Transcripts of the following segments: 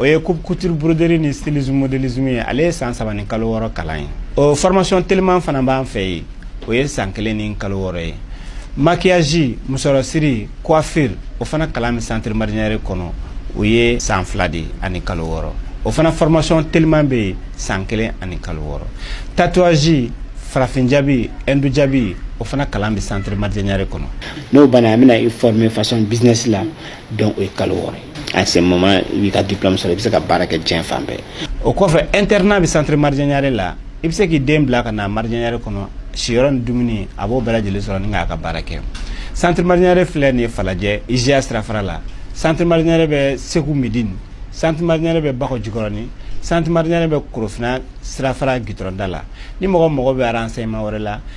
o ye coupe couture broderie ni stylisme modélisme ye ale ye san saba ni kalo wɔɔrɔ kalan ye o formation teliman fana b'an fɛ yen o ye san kelen ni kalo wɔɔrɔ ye maquillage musɔrɔsiri coiffure o fana kalan bɛ centre marjanyare kɔnɔ o ye san fila de ani kalo wɔɔrɔ o fana formation teliman bɛ yen san kelen ani kalo wɔɔrɔ tatouage farafin jabi hindu jabi o fana kalan bɛ centre marjanyare kɔnɔ n'o banna an bɛna i former façon business la donc o ye kalo wɔɔrɔ ye à ce moment i b'i ka diplôme sɔrɔ i bɛ se ka baara kɛ diɲɛ fan bɛɛ o kɔfɛ internat bɛ centre marjanyare la i bɛ se k'i den bila ka na marjanyare kɔnɔ siyɔrɔ ni dumuni a b'o bɛɛ lajɛlen sɔrɔ ni k'a ka baara kɛ centre marjanyare filɛ nin ye falajɛ IJA sirafara la centre marjanyare bɛ segu midini centre marjanyare bɛ bakɔ jikɔrɔni centre marjanyare bɛ korofina sirafara gitɔrɔnda la ni mɔgɔ mago bɛ renseignement wɛrɛ la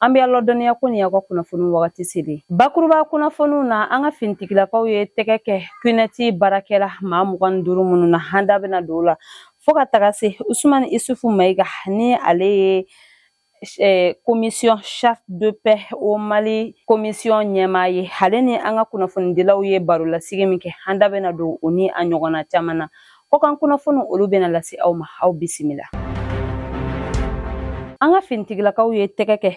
an bɛ aw ladɔnniya ko nin y'aw ka kunnafoni wagati seli bakuruba kunnafoniw na an ka finitigilakaw ye tɛgɛ kɛ kunɛti baarakɛla maa mugan ni duuru minnu na an da bɛna don o la fo ka taga se usumani isufu mayiga ni ale ye eh, commission charte de paix au mali commission ɲɛmaa ye ale ni an ka kunnafonidilaw ye barolasigi min kɛ an da bɛna don o ni a ɲɔgɔnna caman na Kɔkan kunnafoniw olu bɛna lase aw ma aw bisimila. An ka finitigilakaw ye tɛgɛ kɛ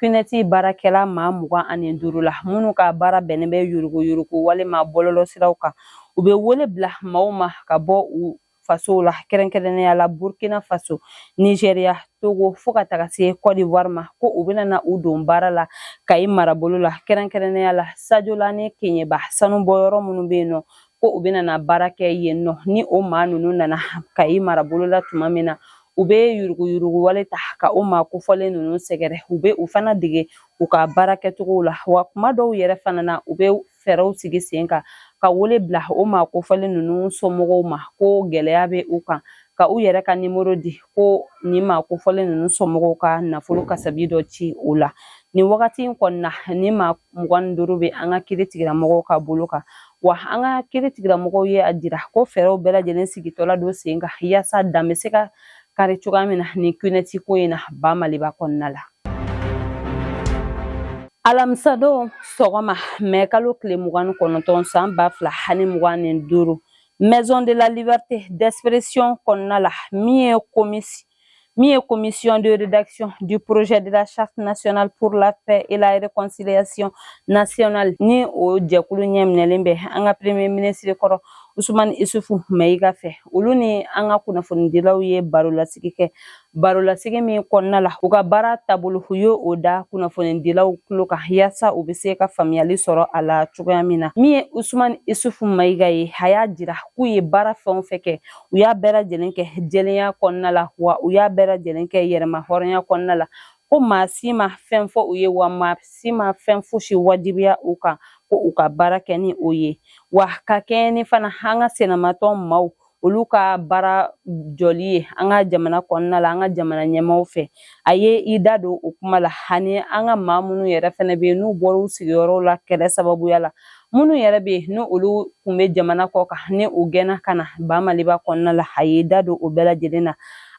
kunɛti baarakɛla maa mugan ani duuru la minnu ka baara bɛnnen bɛ yurugu yurugu walima bɔlɔlɔ siraw kan u bɛ wele bila maaw ma ka bɔ u fasow la kɛrɛnkɛrɛnnenya la burkina faso nizeriya togo fo ka taga se kɔdiwari ma ko u bɛna na u don baara la kayi marabolo la kɛrɛnkɛrɛnnenya la sajola ni keɲeba sanubɔyɔrɔ minnu bɛ yen nɔ ko u bɛna na baara kɛ yen nɔ ni o maa ninnu nana kayi marabolo la tuma min na u bɛ yurugu yurugu wale ta ka o maa kofɔlen ninnu sɛgɛrɛ u bɛ u fana dege u ka baara kɛcogow la wa kuma dɔw yɛrɛ fana na u bɛ fɛɛrɛw sigi sen kan ka wele bila o maa kofɔlen ninnu somɔgɔw ma ko gɛlɛya bɛ u kan ka u yɛrɛ ka nimero di ko nin maa kofɔlen ninnu somɔgɔw ka nafolo kasabi dɔ ci o la nin wagati in kɔnɔna nin maa mugan ni duuru bɛ an ka kiiritigilamɔgɔw ka bolo kan wa an ka kiiritigilamɔgɔw ye a jira ko fɛɛrɛw bɛɛ lajɛlen sigitɔla don sen kan yaasa dan bɛ se ka kari cogoya min na nin kunɛti ko in na ba maliba kɔnɔna la alamisadon sɔgɔma mɛ kalo tile mugan ni kɔnɔntɔn san ba fila ani mugan ni duuru Maison de la Liberté d'expression kɔnɔna la min ye komisi min ye commission de rédaction du projet de la charte nationale pour la paix et la réconciliation nationale ni o jɛkulu ɲɛminɛlen bɛ an ka premier ministre kɔrɔ usumani isufu mayiga fɛ olu ni an ka kunnafonidilaw ye baro lasigi kɛ barolasigi min kɔnɔna la u ka baara taabolo u ye o da kunnafonidilaw tulo kan yaasa u bɛ se ka faamuyali sɔrɔ a la cogoya min na min ye usumani isufu mayiga ye a y'a jira k'u ye baara fɛn o fɛn kɛ u y'a bɛɛ lajɛlen kɛ jɛlenya kɔnɔna la wa u y'a bɛɛ lajɛlen kɛ yɛrɛma hɔrɔnya kɔnɔna la ko maa si ma fɛn fɔ u ye wa maa si ma fɛn fosi wajibiya u kan ko u ka baara kɛ ni o ye wa ka kɛɲɛ ni fana an ka senamatɔn maaw olu ka baara jɔli ye an ka jamana kɔnɔna la an ka jamana ɲɛmaaw fɛ a ye i da don o kuma la ani an ka maa minnu yɛrɛ fɛnɛ bɛ yen n'u bɔra u sigiyɔrɔw la kɛlɛ sababuya la minnu yɛrɛ bɛ yen n'olu kun bɛ jamana kɔ kan ni u gɛnna ka na ba maliba kɔnɔna la a ye i da don o bɛɛ lajɛlen na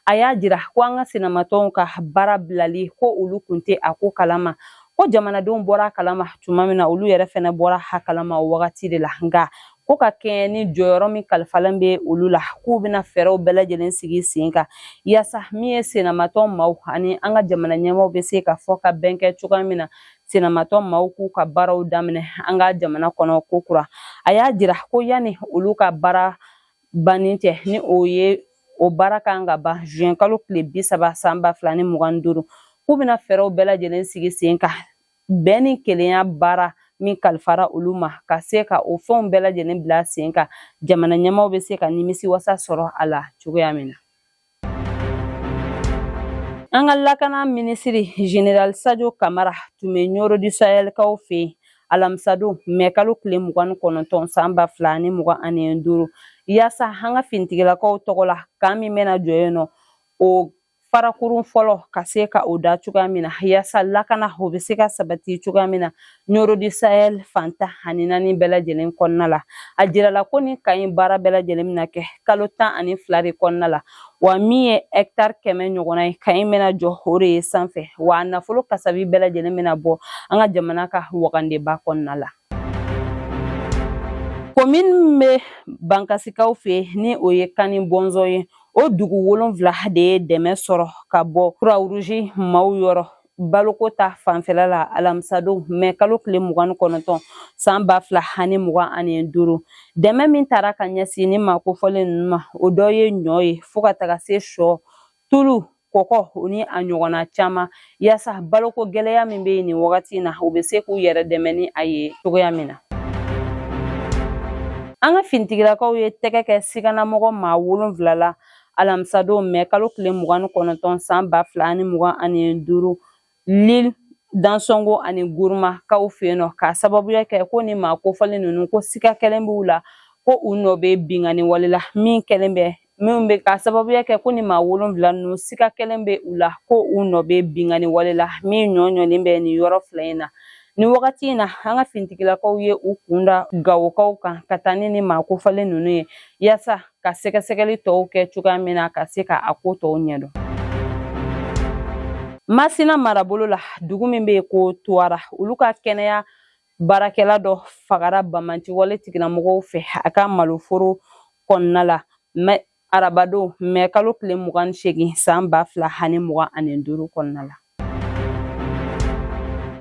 a y'a jira ko an ka senamatɔnw ka baara bilali ko olu kun tɛ a ko kalama ko jamanadenw bɔra a kalama tuma min na olu yɛrɛ fɛnɛ bɔra a kalama o wagati de la nka ko ka kɛɲɛ ni jɔyɔrɔ min kalifalen bɛ olu la k'u bɛna fɛɛrɛw bɛɛ lajɛlen sigi sen kan yaasa min ye senamatɔn maaw ani an ka jamana ɲɛmaaw bɛ se ka fɔ ka bɛn kɛ cogoya min na senamatɔn maaw k'u ka baaraw daminɛ an ka jamana kɔnɔ ko kura a y'a jira ko yanni olu ka baara banni cɛ ni o ye o baara kan ka ban zuwɛnkalo tile bi saba san ba fila ni mugan ni duuru k'u bɛna fɛɛrɛw bɛɛ lajɛlen sigi sen kan bɛn ni kelenya baara min kalifara olu ma ka se ka o fɛnw bɛɛ lajɛlen bila sen kan jamana ɲɛmaaw bɛ se ka nimisi wasa sɔrɔ a la cogoya min na an ka lakana minisiri general sajo kamara tun bɛ ɲoro du sahɛlkaw fɛ yen alamisadon mɛ kalo tile mugan ni kɔnɔntɔn san ba fila ani mugan ani duuru yaasa an ka finitigilakaw tɔgɔ la kan min bɛna jɔ yen nɔ o farakurun fɔlɔ ka se ka o da cogoya min na yaasa lakana o bɛ se ka sabati cogoya min na ɲoro du sahɛl fan tan ani naani bɛɛ lajɛlen kɔnɔna la a jirala ko nin kan in baara bɛɛ lajɛlen bɛna kɛ kalo tan ani fila de kɔnɔna la wa min ye hɛkitari kɛmɛ ɲɔgɔnna ye kan in bɛna jɔ o de ye sanfɛ wa a nafolo kasabi bɛɛ lajɛlen bɛna bɔ an ka jamana ka wagandeba kɔnɔna la komini min bɛ bankasikaw fɛ ni o ye kani bɔnzɔn ye o dugu wolonfila de ye dɛmɛ sɔrɔ ka bɔ kuruwaruzi maaw yɔrɔ baloko ta fanfɛla la alamisadon mɛ kalo tile mugan ni kɔnɔntɔn san ba fila ani mugan ani duuru dɛmɛ min taara ka ɲɛsin nin maa kofɔlen ninnu ma o dɔ ye ɲɔ ye fo ka taga se sɔ tulu kɔkɔ o ni a ɲɔgɔnna caman yaasa baloko gɛlɛya min bɛ yen nin wagati in na u bɛ se k'u yɛrɛ dɛmɛ ni a ye cogoya min na an ka finitigilakaw ye tɛgɛ kɛ siganamɔgɔ maa wolonfila la alamisadon mɛ kalo tile mugan ni kɔnɔntɔn san ba fila ani mugan ani duuru lil dansɔngo ani guruma kaw fɛ yen nɔ k'a sababuya kɛ ko ni maa kofɔlen ninnu ko siga kɛlen b'u la ko u nɔ bɛ binkanni wale la min kɛlen bɛ minnu bɛ k'a sababuya kɛ ko ni maa wolonwula ninnu siga kɛlen bɛ u la ko u nɔ bɛ binkanni wale la min ɲɔ ɲɔlen bɛ nin yɔrɔ fila in na Ni wagati in na an ka finitigilakaw ye u kun da gawokaw kan ka taa ni ni maa kofɔlen ninnu ye yaasa ka sɛgɛsɛgɛli tɔw kɛ cogoya min na ka se ka a ko tɔw ɲɛdɔn masina marabolo la dugu min bɛ yen ko tuwara olu ka kɛnɛya baarakɛla dɔ fagara banbaanci wale tigilamɔgɔw fɛ a ka maloforo kɔnɔna la arabadon mɛ kalo tile mugan ni segin san ba fila ani mugan ani duuru kɔnɔna la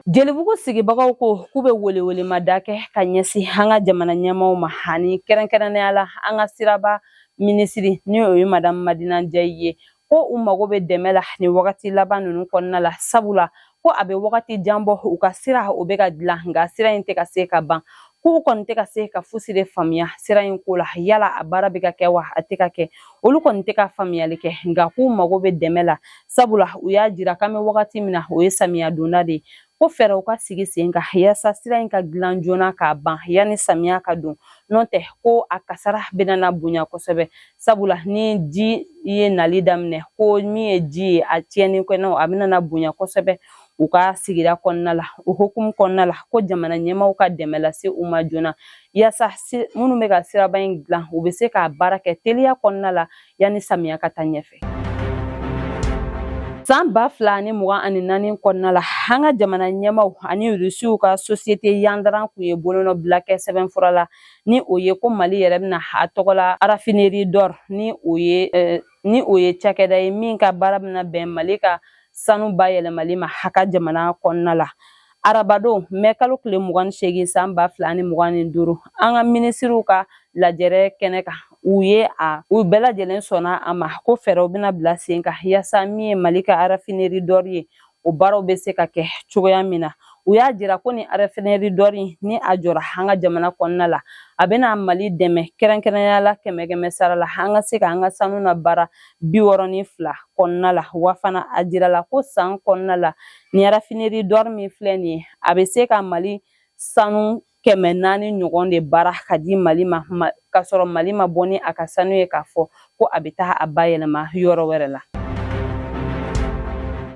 jelibugu sigibagaw ko k'u bɛ welewelemada kɛ ka ɲɛsin an ka jamana ɲɛmaaw ma ani kɛrɛnkɛrɛnnenya la an ka siraba minisiri ni o ye madamu madina jayi ye ko u mago bɛ dɛmɛ la nin wagati laban ninnu kɔnɔna la sabula ko a bɛ wagati jan bɔ u ka sira o bɛ ka dilan nka sira in tɛ ka se ka ban k'u kɔni tɛ ka se ka fosi de faamuya sira in ko la yala a baara bɛ ka kɛ wa a tɛ ka kɛ olu kɔni tɛ ka faamuyali kɛ nka k'u mago bɛ dɛmɛ la sabula u y'a jira k'an bɛ wagati min na o ye samiya donda de ye ko fɛɛrɛw ka sigi sen kan yaasa sira in ka dilan joona k'a ban yanni samiya ka don n'o tɛ ko a kasara bɛna na bonya kosɛbɛ sabula ni ji ye nali daminɛ ko min ye ji ye a tiɲɛni kɔni a bɛna bonya kosɛbɛ u ka sigida kɔnɔna la o hukumu kɔnɔna la ko jamana ɲɛmaw ka dɛmɛ lase u ma joona yaasa minnu bɛ ka siraba in dilan u bɛ se k'a baara kɛ teliya kɔnɔna la yanni samiya ka taa ɲɛfɛ san ba fila ni mugan ani naani kɔnɔna la an ka jamana ɲɛmaw ani rusiw ka sosiyete yandaran kun ye bolonɔbila kɛ sɛbɛnfura la ni o ye ko mali yɛrɛ bɛna a tɔgɔ la arafineri dɔr ni o ye eh, ni o ye cakɛda ye min ka baara bɛna bɛn mali ka sanu bayɛlɛmali ma an ka jamana kɔnɔna la arabadon mɛ kalo tile mugan ni seegin san ba fila ni mugan ni duuru an ka minisiriw ka lajɛrɛ kɛnɛ kan u ye a u bɛɛ lajɛlen sɔnna a ma ko fɛɛrɛw bɛna bila sen kan yaasa min ye mali ka arafineri dɔri ye o baaraw bɛ se ka kɛ cogoya min na u y'a jira ko nin arafineri dɔri ni a jɔra an ka jamana kɔnɔna la a bɛna mali dɛmɛ kɛrɛnkɛrɛnya la kɛmɛ kɛmɛ sara la an ka se ka an ka sanu nabaara bi wɔɔrɔ ni fila kɔnɔna la wa fana a jirala ko san kɔnɔna la nin arafineri dɔri min filɛ nin ye a bɛ se ka mali sanu kɛmɛ naani ɲɔgɔn de baara k'a di mali ma k'a sɔrɔ mali ma bɔ ni a ka sanu ye k'a fɔ ko a bɛ taa a bayɛlɛma yɔrɔ wɛrɛ la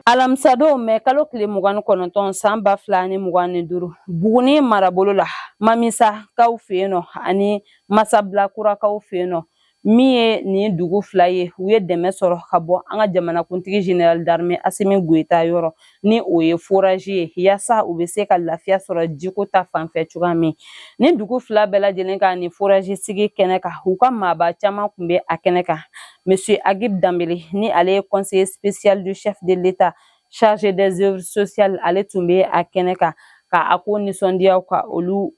alamisadon mɛ kalo tile mugan ni kɔnɔntɔn san ba fila ni mugan ni duuru buguni marabolo la mamisa kaw fɛ yen nɔ ani masabila kura kaw fɛ yen nɔ min ye nin dugu fila ye u ye dɛmɛ sɔrɔ ka bɔ an ka jamanakuntigi général d'armée asimi goyita yɔrɔ ni o ye foraji ye yaasa u bɛ se ka lafiya sɔrɔ jiko ta fanfɛ cogoya min ni dugu fila bɛɛ lajɛlen ka nin foraji sigi kɛnɛ kan u ka maaba caman tun bɛ a kɛnɛ kan monsieur agib danbele ni ale ye conseiller spécial du chef de l'état chargé des œuvres sociales ale tun bɛ a kɛnɛ kan ka a ko nisɔndiyaw ka olu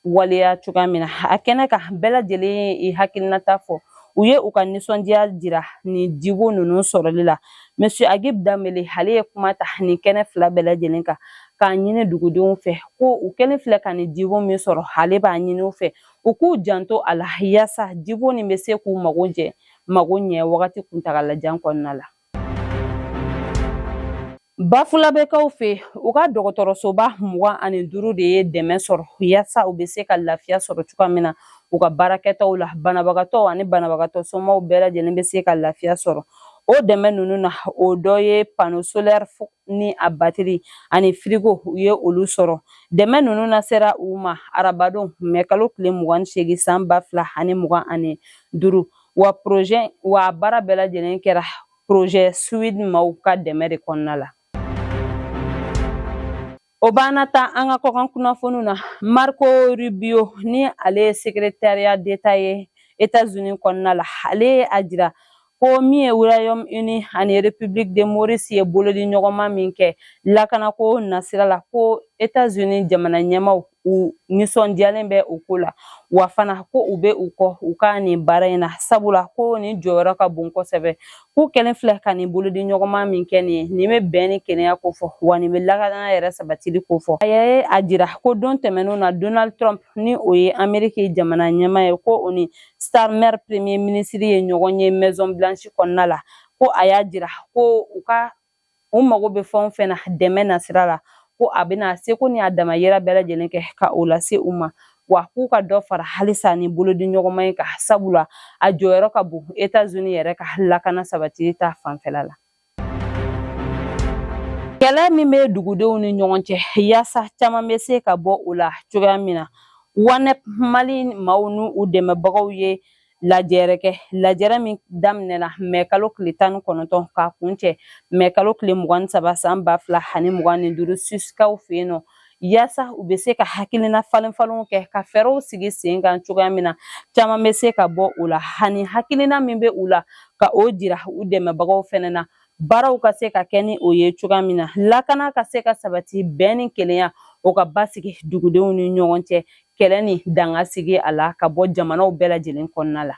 waleya cogoya min na a kɛnɛ kan bɛɛ lajɛlen ye hakilinata fɔ u ye u ka nisɔndiya jira nin jibon ninnu sɔrɔli la monsieur agib danbele ale ye kuma ta nin kɛnɛ fila bɛɛ lajɛlen kan k'a ɲini dugudenw fɛ ko u kɛlen filɛ ka nin jibon min sɔrɔ ale b'a ɲini u fɛ u k'u janto a la yaasa jibon nin bɛ se k'u mago jɛ mago ɲɛ wagati kuntagalajan kɔnɔna la Bafulabɛkaw fɛ u ka dɔgɔtɔrɔsoba mugan ani duuru de ye dɛmɛ sɔrɔ yaasa u bɛ se ka lafiya sɔrɔ cogoya min na u ka baarakɛtaw la banabagatɔ ani banabagatɔ somaw bɛɛ lajɛlen bɛ se ka lafiya sɔrɔ o dɛmɛ ninnu na o dɔ ye pano solɛri ni a batiri ani firigo u ye olu sɔrɔ dɛmɛ ninnu lasera u ma arabadon mɛ kalo tile mugan ni seegin san ba fila ani mugan ani duuru wa projet wa baara bɛɛ lajɛlen kɛra projet swedd maaw ka dɛmɛ de kɔnɔna la o b'an nata an ka kɔkan kunnafoniw na marco rubio ni ale ye secrétariat d'état ye états-unis kɔnɔna la ale ye a jira ko min ye royaume uni ani république de maurice ye bolodi ɲɔgɔnma min kɛ lakanako nasira la ko états-unis jamana ɲɛmaw u nisɔndiyalen bɛ o ko la wa fana ko u bɛ u kɔ u ka nin baara in na sabula ko nin jɔyɔrɔ ka bon kosɛbɛ k'u kɛlen filɛ ka nin bolodi ɲɔgɔnma min kɛ nin ye nin bɛ bɛn ni kelenya kofɔ wa nin bɛ lakana yɛrɛ sabatili kofɔ a ye a jira ko don tɛmɛnenw na donald trump ni o ye ameriki jamana ɲɛma ye ko o ni starmer premier ministre ye ɲɔgɔn ye maison blanche kɔnɔna la ko a y'a jira ko u ka u mago bɛ fɛn o fɛn na dɛmɛ nasira la ko a bɛna a seko ni a damayira bɛɛ lajɛlen kɛ ka o lase u ma wa k'u ka dɔ fara halisa nin bolodi ɲɔgɔnma in kan sabula a jɔyɔrɔ ka bon etazuni yɛrɛ ka lakana sabatili ta fanfɛla la kɛlɛ min bɛ dugudenw ni ɲɔgɔn cɛ yaasa caman bɛ se ka bɔ o la cogoya min na wanep mali maaw ni u dɛmɛbagaw ye lajɛrɛ kɛ lajɛrɛ min daminɛna mɛ kalo tile tan ni kɔnɔntɔn k'a kuncɛ mɛ kalo tile mugan ni saba san ba fila ani mugan ni duuru suwisikaw fɛ yen nɔ yaasa u bɛ se ka hakilina falen falenw kɛ ka fɛɛrɛw sigi sen kan cogoya min na caman bɛ se ka bɔ o la ani hakilina min bɛ u la ka o jira u dɛmɛbagaw fɛnɛ na baaraw ka se ka kɛ ni o ye cogoya min na lakana ka se ka sabati bɛn ni kelenya o ka basigi dugudenw ni ɲɔgɔn cɛ kɛlɛ nin dan ka sigi ala k'a bɔ jamanaw bɛɛ lajɛlen kɔnɔna la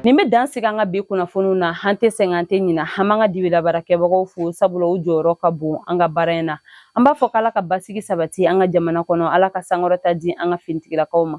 nin bɛ dan sigi an ka bi kunnafoniw na an tɛ sɛgɛn an tɛ ɲina an b'an ka dibi la baarakɛbagaw fo sabula u jɔyɔrɔ ka bon an ka baara in na an b'a fɔ k'ala ka basigi sabati an ka jamana kɔnɔ ala ka sankɔrɔta di an ka finitigilakaw ma